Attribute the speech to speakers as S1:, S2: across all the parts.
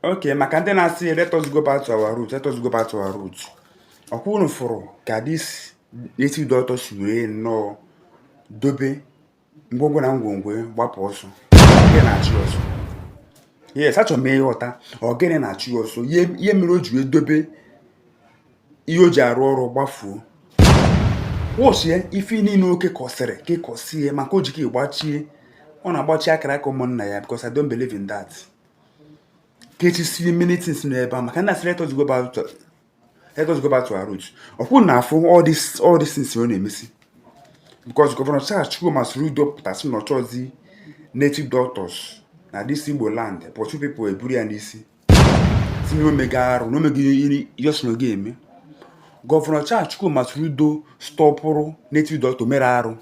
S1: okay maka ndị na-asị let us go back to our root let us go back to our root ọkwa unu fụrụ ka this native doctor si wee nnọọ dobe ngwongwo na ngwongwo gbapụ ọsọ ọ gịnị na-achụ ọsọ yes achọrọ m ịghọta ọ gịnị na-achụ ọsọ ihe mere o ji wee dobe ihe o ji arụ ọrụ gbafuo wụchie ife niile o kekọsịrị kekọsie maka o ji ka ịgbachie ọ na-agbachi akara aka ụmụnna ya because I don't believe in that kechisie many things n'ebe a maka na asịrị let us go back to let us go back to our roots ọkwa unu na-afụ all this all this things ọ na-emesi because gọvanọ Charles Chukwuma Soludo pụta sị na ọ chọzi native doctors na this Igbo land but two people eburu ya n'isi sị na o mega arụ na o mega ihe ọ sị na ọ ga-eme gọvanọ Charles Chukwuma Soludo stọpụrụ native doctor mere arụ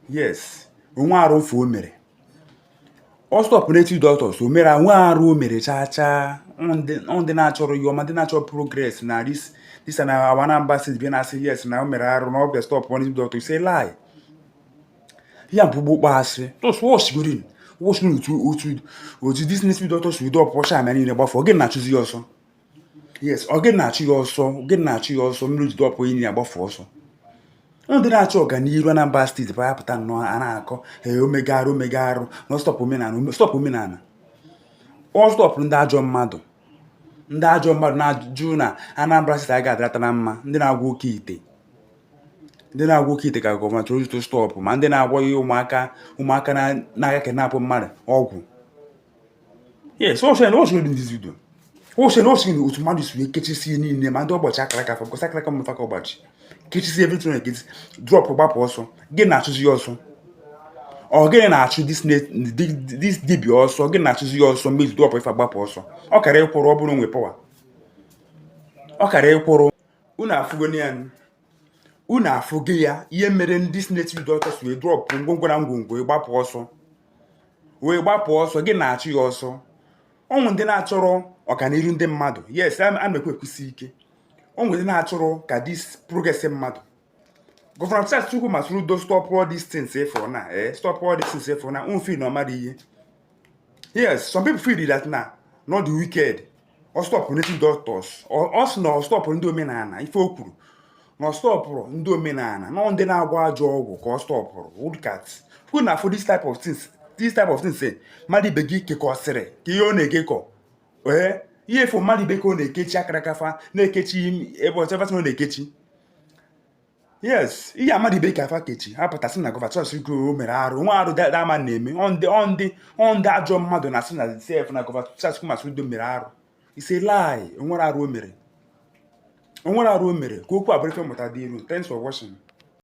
S1: yes o nwe arụ ife o mere ọ stọpụ native doctors o mere o nwe arụ o mere chaa chaa ndị na-achọrọ ya ọma ndị na-achọ progress na this na our Anambra steeti bịa na-asị yes na o mere arụ na ọ bịa stọpụ native doctor is a lie ya bụ bụ ọkpọ asị tụsụọsgrin wụsị n'otu otu otu this native doctor si drọpụcha ama niile gbafuo ọ gịnị na-achụzi ya ọsọ yes ọ gịnị na-achụ ya ọsọ ọ gịnị na-achụ ya ọsọ mere o ji drọpụ ihe ya gbafuo ọsọ ndị na-achọ ọganihu Anambra steeti bụ ya pụta nnọọ a na-akọ ee o mega arụ o mega arụ na ọ stọpụ omenala ọ stọpụ omenala ọ stọpụ ndị ajọ mmadụ ndị ajọ mmadụ na-ajụ na Anambra steeti a ga-adịrata na mma ndị na-agwọ oke ite ndị na-agwọ oke ite ka gọọmenti Soludo stọpụ ma ndị na-agwọ ihe ụmụaka ụmụaka na-aga kidnapụ mmadụ ọgwụ yes o sị na o sị n'obi ndizi udo o sị na o sị na otu mmadụ si wee kechisi niile ma ndị ọ gbachi akara aka fa because akara aka mmefa ka ọ gbachi kechisi everything na-ekechisi drọpụ gbapụ ọsọ gịnị na-achụzi ya ọsọ ọ gịnị na-achụ this dibia ọsọ gịnị na-achụzi ya ọsọ mezi drọpụ ife a gbapụ ọsọ ọ kara ịkwụrụ ọ bụrụ na o nwe pawa ọ kara ịkwụrụ unu afụgo ya unu afụgo ya ihe mere this native doctor wee drọpụ ngwongwo na ngwongwo ịgbapụ ọsọ wee gbapụ ọsọ gịnị na-achụ ya ọsọ ọ bụ ndị na-achọrọ ọganihu ndị mmadụ yes a na-ekwu ekwusi ike ọ bụ ndị na-achọrọ ka this progress mmadụ gọvanọ Charles Chukwuma Soludo stop all these things ịfụrụ na eh stop all these things ịfụrụ na unfil na ọmadụ ihe yes some people feel that na not the wicked ọ stọpụrụ native doctors ọ sị na ọ stọpụrụ ndị omenala ife o kwuru na ọ stọpụrụ ndị omenala na ndị na-agwọ ajọ ọgwụ ka ọ stọpụrụ look at ọkwa unu na-afụ this type of things this type of things eh, mmadụ ibe gị kekọsịrị ka ihe ọ na-ekekọ ee eh, ife mmadụ ibe ka ọ na-ekechi akara aka fa na-ekechi ebe ọzọ ebe ọ na-ekechi yes ihe amadị ibe ka afa kechi apụta sị na gọvanọ charles chukwuma o mere arụ onwere arụ dama na-eme ọndị ọndị ọndị ajọ mmadụ na-asị na sef na gọvanọ charles chukwuma soludo mere arụ is a lie onwere arụ o mere onwere arụ o mere ka okwu abụrụ ife mmụta dị iru thanks for watching